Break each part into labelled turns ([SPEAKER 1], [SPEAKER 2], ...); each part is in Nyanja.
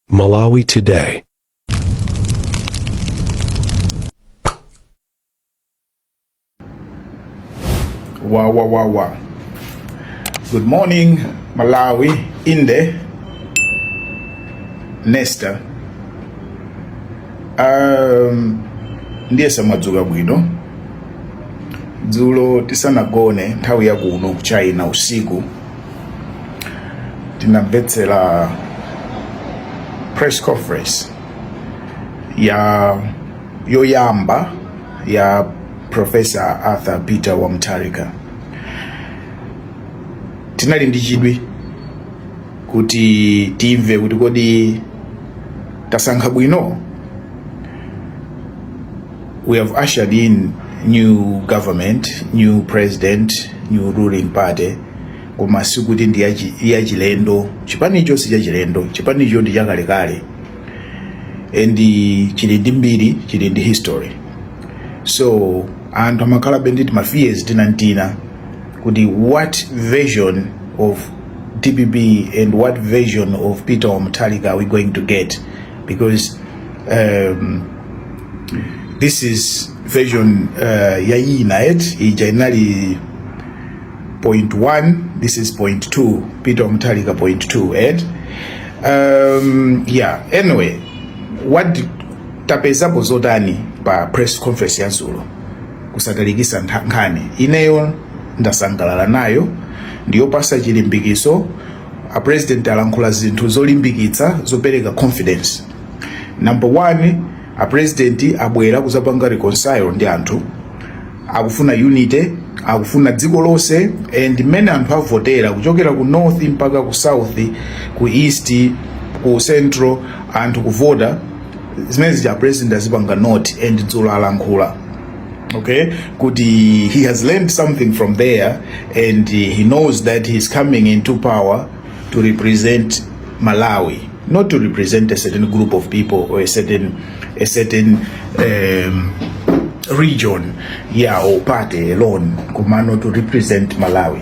[SPEAKER 1] Malawi
[SPEAKER 2] Today. Wow, wow, wow, wow. Good morning, Malawi, Inde, Nesta. Um, ndiye mwadzuka bwino dzulo tisanagone nthawi yakuno ku China usiku tinamvetsera press conference ya yoyamba ya Professor Arthur Peter wa Mutharika tinali ndi chidwi kuti timve kuti kodi tasankha bwino We have ushered in new government, new president, new ruling party koma sikuti ndi yachi- yachilendo chipanicho si chachilendo chipanicho ndi chakalekale and chili ndi mbiri chili ndi history so anthu amakhalabe ndi ma fears tinantina kuti what version of DPP and what version of Peter wa Mutharika are we going to get because um, this is version uh, yayina eti ija inali point 1 this is point 2 Peter wa Mutharika point 2 eti um, yeah anyway what tapezapo zotani pa press conference ya dzulo kusatalikisa nkhani ineyo ndasangalala nayo ndiyopasa chilimbikiso a president alankhula zinthu zolimbikitsa zopereka confidence number one a president abwera kuzapanga reconcile ndi anthu akufuna unity akufuna dziko lonse and mmene anthu avotera kuchokera ku north mpaka ku south ku east ku central anthu kuvota zimene zija a president azipanga note and dzulo alankhula okay kuti he has learned something from there and he knows that he is coming into power to represent Malawi, not to represent a certain group of people or a certain a certain um, region, yeah, or party alone, Kumano to represent Malawi.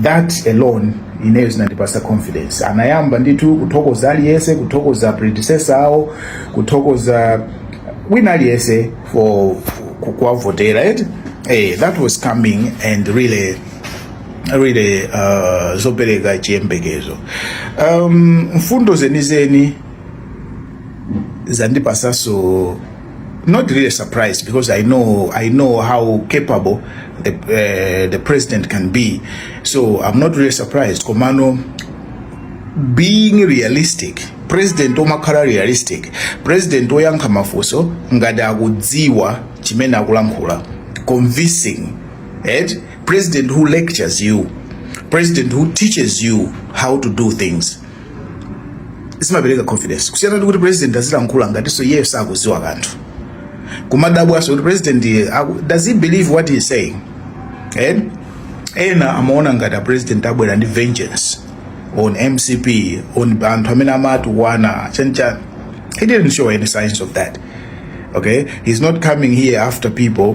[SPEAKER 2] That alone ineyo zinandipasa confidence anayamba ndithu kuthokoza aliyese kuthokoza predecessor awo kuthokoza wina aliyese for kuwavotera eti eh, that was coming and really really uh, zopereka chiyembekezo um, mfundo zenizeni zandipasa so not really surprised because I know I know how capable the uh, the president can be so I'm not really surprised komano being realistic president omakhala realistic president oyankha mafunso ngati akudziwa chimene akulankhula convincing and president who lectures you, president who teaches you how to do things zimapereka confidence kusiyana ndi kuti president azilankhula ngatinso iyeyo sakudziwa kanthu kumadabwanso kuti president does he believe what he is saying eh? ena amaona ngati apresident abwera ndi vengeance on mcp on anthu amene amatukwana chanchani he didn't show any signs of that okay he's not coming here after people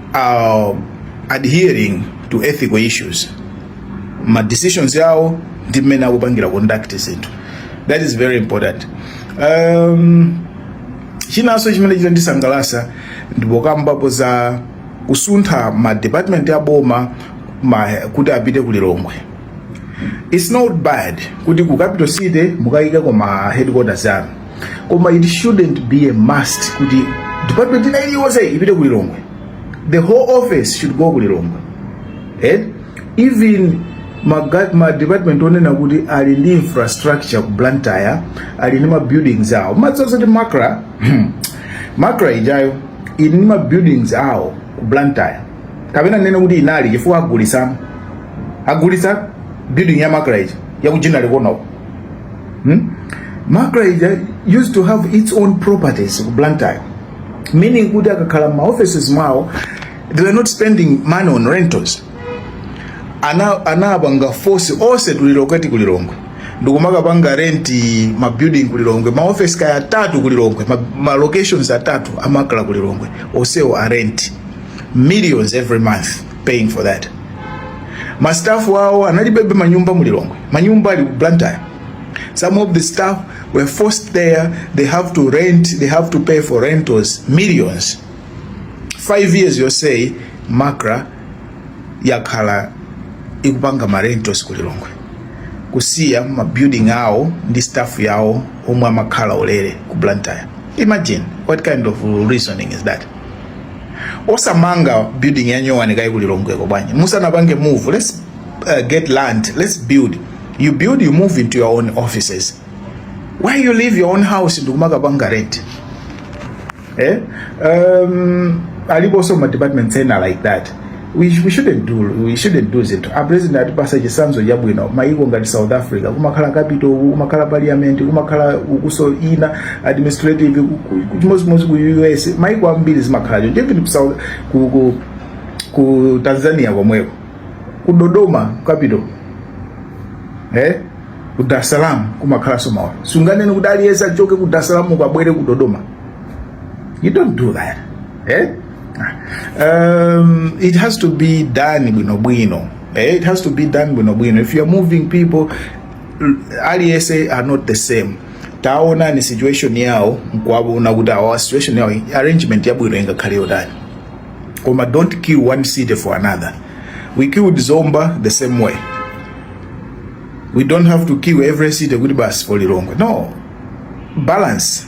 [SPEAKER 2] are adhering to ethical issues ma decisions awo ndi mmene akupangira conduct zinthu that is very important um, chinanso chimene chitandisangalasa ndipokambapo za kusuntha ma department a boma ma, kuti apite ku lilongwe it's not bad kuti ku capital city mukayikeko ma headquarters anu koma it shouldn't be a must kuti department ina iliyonse ipite ku lilongwe the whole office should go ku lilongwe eh? even maga- ma department onena kuti ali ndi infrastructure ku blantyre ali ndi ma buildings awo mukudziwa zoti macra macra ijayo ili ndi ma buildings awo ku blantyre kapena ndinene kuti inali chifukwa agulisa agulisa building ya macra ija ya ku Ginnery Corner ko hmm? macra ija used to have its own properties ku blantyre meaning kuti akakhala ma offices mwawo they were not spending money on rentals ana anapanga force onse to relocate ku lilongwe ndikumakapanga renti ma building kulilongwe ma office kaya atatu kulilongwe ma, ma locations atatu a macra kulilongwe onsewo a rent millions every month paying for that ma staff awo analibe manyumba mu Lilongwe manyumba ali ku Blantyre some of the staff were forced there they have to rent they have to pay for rentals millions five years yonseyi macra yakhala ikupanga ma rentals ku Lilongwe kusiya ma building awo ndi staff yawo omwe amakhala ulere ku Blantyre imagine what kind of reasoning is that osamanga building ya nyowani kaye kuli longweko bwanji musanapange move let's uh, get land let's build you build you move into your own offices why you leave your own house ndikumakapanga rent eh? um, aliposo ma departments ena like that we, we shouldn't do we shouldn't do zinthu a president atipasa chisanzo chabwino maiko ngati south africa kumakhala capital uku kumakhala parliament kumakhala ukunso ina administrative ku- ku- chimodzimodzi ku us maiko ambiri zimakhala choncho even ku south ku, ku, ku tanzania komweko ku dodoma capital eh ku dar es salaam kumakhalanso mawa sunganene kuti aliyense achoke ku dar es salaam abwere ku dodoma you don't do that eh um, it has to be done bwinobwino eh, it has to be done bwinobwino if youare moving people aliyense are not the same taona ni situation yawo nkuwaona kuti awa situation yawo arrangement yabwino ingakhale yotani koma don't kill one city for another we killed zomba the same way we don't have to kill every city kuti basi polilongwe no balance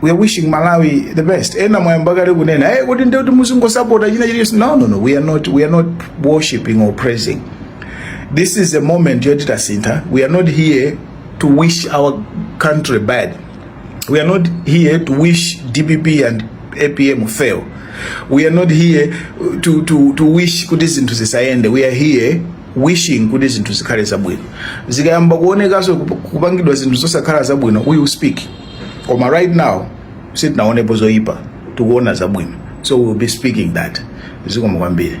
[SPEAKER 2] we are wishing Malawi the best. Ena mwayamba kale kunena hey, eh, kuti ndiye kuti muzingosapota china chilichonse. No, no, no, we are not, we are not worshiping or praising. This is a moment yoti tasintha. We are not here to wish our country bad. We are not here to wish DPP and APM fail. We are not here to, to, to wish kuti zinthu zisayende. We are here wishing kuti zinthu zikhale zabwino. Zikayamba kuonekaso kupangidwa zinthu zosakhala zabwino, we will speak. koma right now sitinaonepo zoyipa tukuona zabwino so we will be speaking that zikomo kwambiri